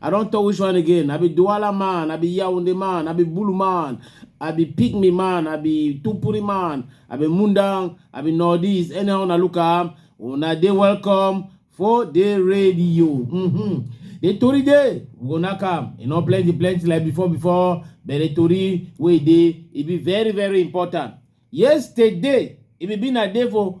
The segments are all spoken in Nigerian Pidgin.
I don't tell which one again. I be Douala man, I be Yaoundé man, I be Bulu man, I be Pygmy man, I be Tupuri man, I be Mundang, I be Nordies. Anyhow, una look am, una dey welcome for the radio. Mm-hmm. The Tory day, we gonna come. You know, plenty, plenty like before, before. But the Tory way day, it be very, very important. Yesterday, it be been a day for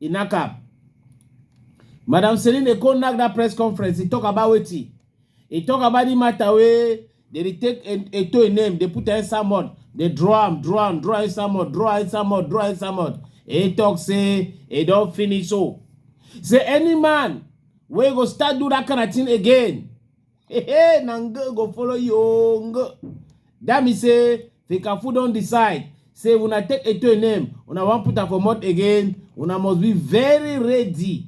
He knack am. Madam Celine Eko knack that press conference. He talk about wetin. He talk about the matter wey they dey take E- Eto im name, they put am inside mud, they draw am, draw am, draw am inside mud, draw am inside mud, draw am inside mud. He talk say he don finish so. Say any man wey go start do that kind of thing again, hey, hey, na ngo go follow you. oh, ngo. That mean say Fecafoot don decide say if una take Eto'o name, una wan put am for mouth again, una must be very ready.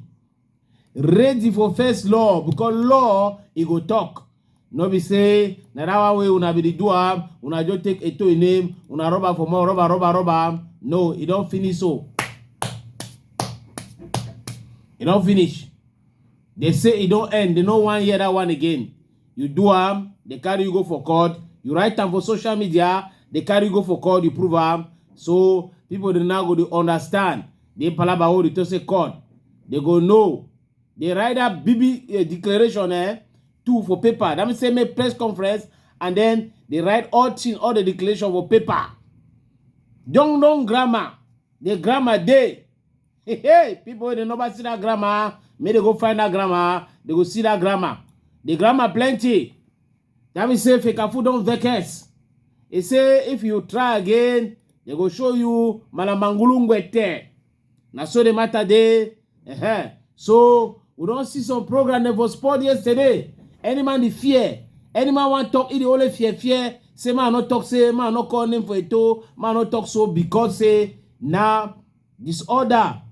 Ready for first law because law e go talk. No be say na that one wey una be the do am, una just take Eto'o name, una rub am for mouth, rub am, rub am, rub am. No, e don finish so. E don finish. They say e don end, they no wan hear that one again. you do am dey carry you go for court you write am for social media dey carry you go for court you prove am so people dey now go dey understand the palaba wey dey talk say court dey go know dey write that bibi uh, declaration eh two for paper that means say make press conference and then dey write all thing all the declaration for paper don don grammar the grammar dey Hey, hey, people wey dey never see that grandma, make they go find that grandma, they go see that grandma. The grandma plenty. That means say Fekafu don vex. He say if you try again, they go show you Malamangulu Ngwete. Na so the matter dey. Uh-huh. So we don see some program dem for sport yesterday. Any man dey fear. Any man wan talk, he dey only fear fear. Say man no talk, say man no call name for a toe, man no talk so because say na disorder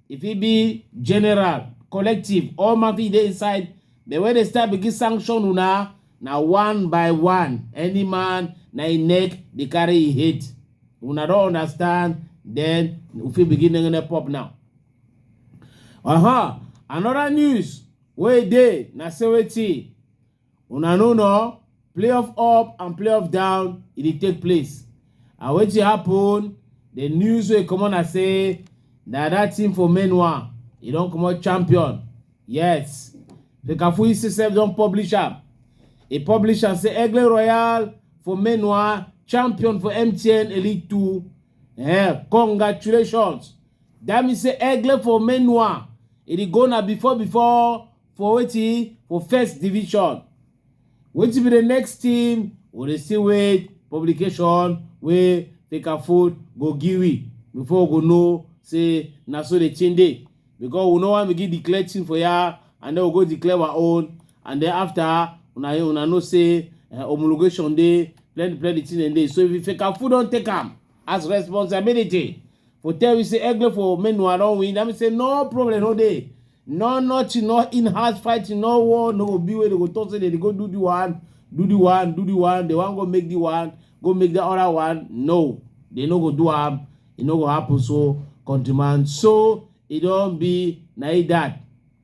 e fit be general collective all man fit dey inside but when dem start begin sanction una na one by one any man na im neck dey carry im head una don understand then we fit begin nengene pop now uh-huh another news wey dey na say wetin una no know playoff up and playoff down e dey take place and wetin happen the news wey comot na say na that team for main one e don comot champion yes fekafu isi sef don publish am e publish am say egle royal for main one champion for mtn elite two eh congratulations that mean say egle for main one e dey go na before before for wetin for first division wetin be the next team we dey still wait publication wey fecafoot go give we before we go know say na so the thing dey because we no wan begin declare team for ya and then we go declare our own and then after una una know say uh, homologation dey plenty plenty thing dem dey so if fecafoot don take am as responsibility for tell you say egle for menua don win that mean say no problem no dey no nothing no in house fighting no war no go be wey dey go talk say dey dey go do the one do the one do the one dey wan go make the one go make the other one no dey no go do am e no go happen so countryman so e don be na e that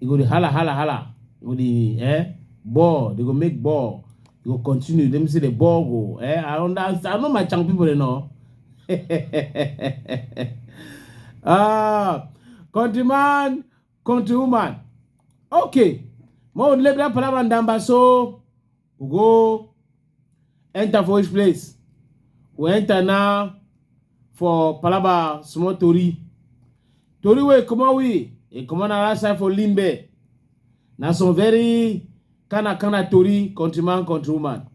e go dey hala hala hala go dey eh ball they go make ball e go continue let me say the ball go eh i understand i know my channel people dey know ah countryman countrywoman okay mo lebi that palava ndamba so we go enter for which place we enter now for palaba small tori tori wey comot we e comot na last time for limbe na some very kind of kind of tori countryman countrywoman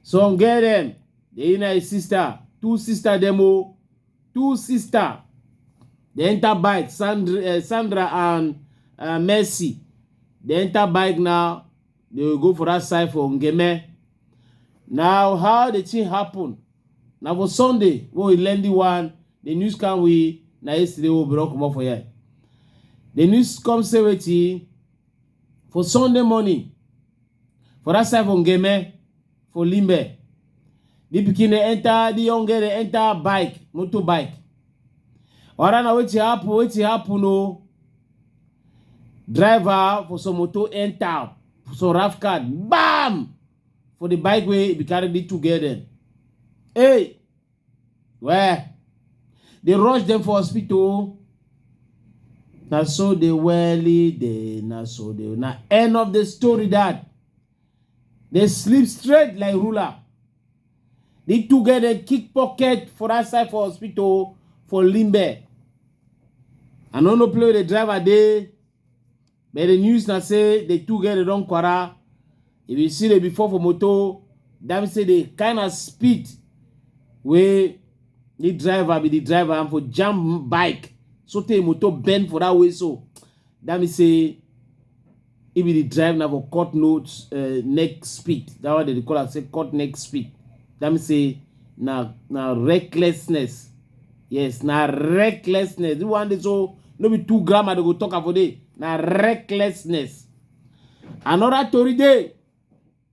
some get dem dey na his sister two sister dem o two sister dey enter bike sandra, uh, sandra and uh, mercy dey enter bike na They will go for that side for Ngeme. Now, how the thing happen? Now for Sunday, when we learn the one, the news can we now yesterday we will come up for here. The news comes say wetin for Sunday morning for that side for Ngeme. for limbe the pikin dey enter the young girl dey enter bike motor bike wara na wetin happen wetin happen o driver for some motor enter for some rough card bam for the bike wey be carry the two girl dem hey well dey rush dem for hospital o na so dey welly dey na so dey na end of the story that dey sleep straight like ruler. Di two girl dem kick pocket for that side for hospital for Limbe. I no know play with the driver dey, but the news na say the two girl dem don kwara. If you see the before for motor, that mean say the kind of speed wey the driver be the driver and for jam bike so tey motor bend for that way so that mean say If you dey drive na for cut no uh, neck speed. That one they dey call am say cut neck speed. That means say na na recklessness. Yes, na recklessness. This one dey so no be two grammar they go talk am for there. Na recklessness. Another tori dey.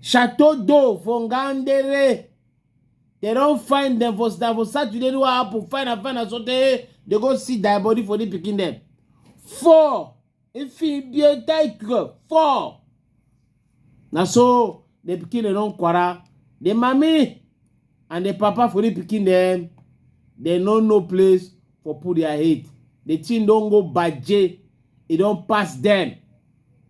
Chateau d'eau for Ngandere. They don find them for na for Saturday wey happen. Find am, find am so tey they go see die body for the pikin dem. Four Ifibiotaikwe four. Na so the pikin dem don kwara. The mami and the papa for the pikin dem, they no know place for put their head. The thing don go baje. E don pass them.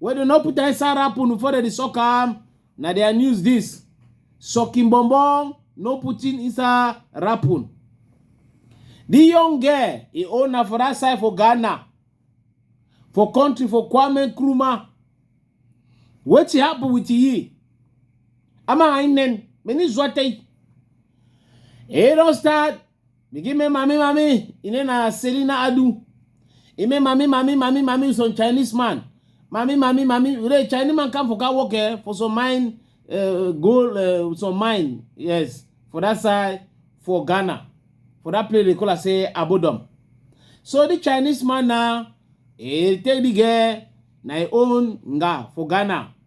wey dem no put inside wrapper before dem dey suck am na their news this sucking bonbon no putting inside wrapper the young girl e own na for that side for ghana for country for kwame nkrumah wetin happen with yi ama ainen many zote e don start Mi gi me mami mami ine na Selina Adu. Ime mami mami mami mami some Chinese man. Mami mami mami re Chinese man come for car work eh, for some mine uh, gold uh, some mine yes for that side for Ghana for that place they call am say Abodom. So the Chinese man now he take the girl na him own nga for Ghana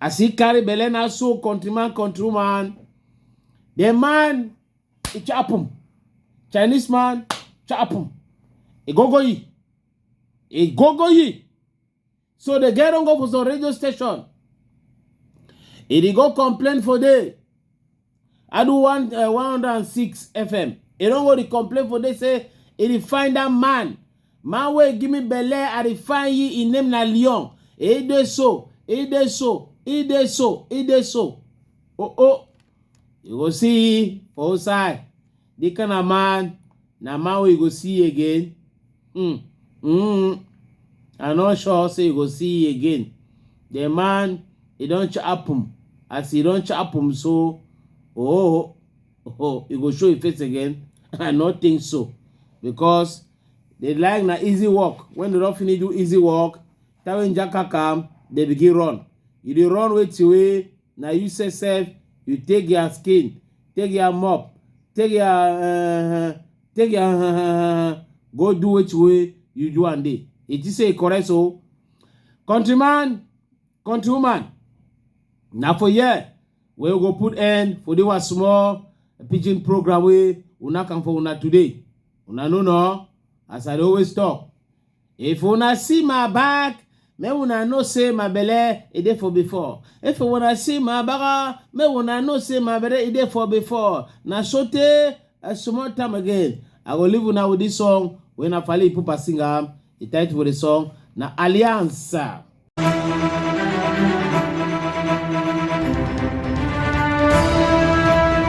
As he carry belle na so countryman countrywoman the man e chop am chinese man chop am e go go yi e go go yi so the girl don go for some radio station e dey go complain for there I do one uh, 106 FM. They don't go to complain for they say it is find that man. Man way give me belle, I dey find ye in name na Leon. It dey so, it dey so, it dey so, it dey so. Oh oh. You go see for outside. Di kind of man na man wey you go see again. Mm. Mm. I no sure say you go see again. The man e don chop am. As e don chop am so, oh, oh, you go show your face again. I no think so because they like na easy work. When they don finish do easy work, time wey Njaka come, they begin run. You dey run wetin wey na you say sef you take their skin take their mop take their uh, take their uh, go do which way you do and day it is say correct so countryman countrywoman na for here we go put end for the small pidgin program We una come for una today una no know as i always talk If una see my back, make una know say my belle e dey for before. If una see my baga, make una know say my belle e dey for before. Na so tey a small time again, I go leave una with this song wey na Fally Ipupa sing am. The title for the song na Alliance.